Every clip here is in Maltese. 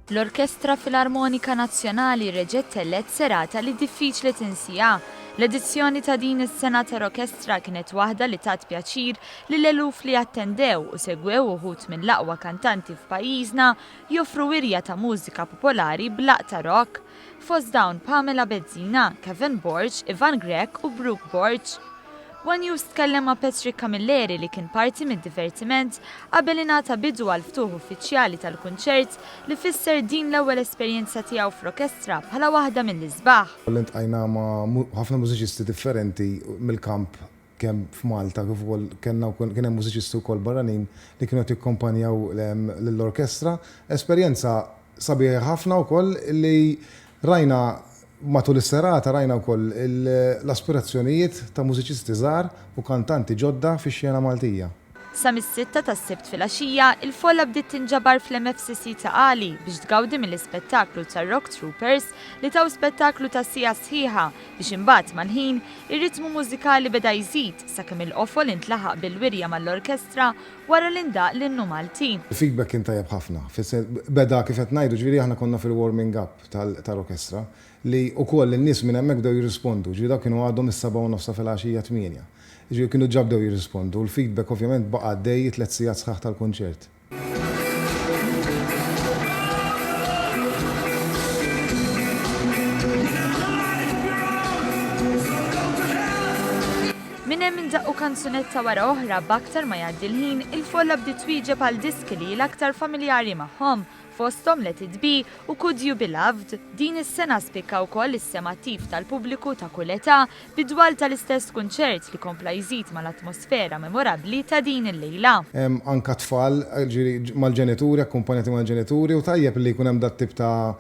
L-Orkestra Filarmonika Nazzjonali reġgħet tellgħet serata li diffiċli tinsiha. L-edizzjoni ta' din is-sena ta' Rokestra kienet waħda li tat pjaċir lill-eluf li attendew u segwew uħud mill-aqwa kantanti f'pajjiżna joffru wirja ta' mużika popolari b'laqta rock. Fost dawn Pamela Bezzina, Kevin Borg, Ivan Grech u Brooke Borg. One News tkellem ma' Patrick Camilleri li kien parti mid-divertiment qabel ingħata bidu għall-ftuħ uffiċjali tal-kunċert li fisser din l-ewwel esperjenza tiegħu f'rokestra bħala waħda mill-isbaħ. Ltqajna ma' ħafna mużiċisti differenti mill-kamp kemm f'Malta kif ukoll kellna wkoll kien hemm mużiċisti wkoll barranin li kienu qed jikkompanjaw lill-orkestra. Esperjenza sabiħa ħafna wkoll li rajna matul is-serata rajna wkoll l-aspirazzjonijiet ta' mużiċisti żgħar u kantanti ġodda fix-xena Maltija. Sa mis-sitta tas-Sibt filgħaxija, il-folla bdiet tinġabar fl-MFCC ta' Qali biex tgawdi mill-ispettaklu tar-Rock Troopers li taw spettaklu ta' siegħa sħiħa biex imbagħad mal-ħin, ir-ritmu mużikali beda jżid sakemm il-qofol intlaħaq bil-wirja mal-orkestra wara li ndaqq l-Innu Malti. Il-feedback kien tajjeb ħafna, beda kif qed ngħidu, ġifieri aħna konna fil-warming up tal-orkestra li wkoll in-nies minn hemmhekk bdew jirrispondu, ġifieri dawk kienu għadhom is-sebgħa u nofs ta' filgħaxija tmienja. Jiġifieri kienu ġa bdew jirrispondu u l-feedback ovvjament baqa' għaddej it-tliet sigħat sħaħ tal-kunċert. Minn hemm indaqqu kanzunetta wara oħra b'aktar ma jgħaddi l-ħin il-folla bdiet twieġeb għal diski li hi l-aktar familjari magħhom, fosthom Let It Be u Could You Be Loved. Din is-sena spikka wkoll is-sem attiv tal-pubbliku ta' kull età Fid-dwal tal-istess kunċert li kompla jżid mal-atmosfera memorabbli ta' din il-lejla. Hemm anka tfal, jiġifieri mal-ġenituri, akkumpanjati mal-ġenituri u tajjeb li jkun hemm dat-tip ta'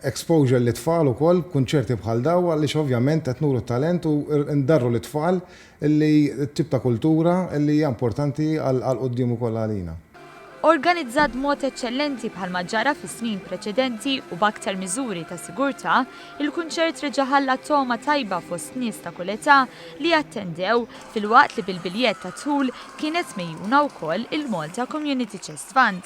exposure lit-tfal ukoll b'kunċerti bħal dawn għaliex ovvjament qed nuru t-talent u ndarru lit-tfal li t-tip ta' kultura li hija importanti għall-quddiem ukoll għalina. organizzat b'mod eċċellenti bħalma ġara fis-snin preċedenti u b'aktar miżuri ta' sigurtà, il-kunċert reġa' ħalla togħma tajba fost nies ta' kull età li attendew, filwaqt li bil-biljett tad-dħul kienet megħjuna wkoll il-Malta Community Chest Fund.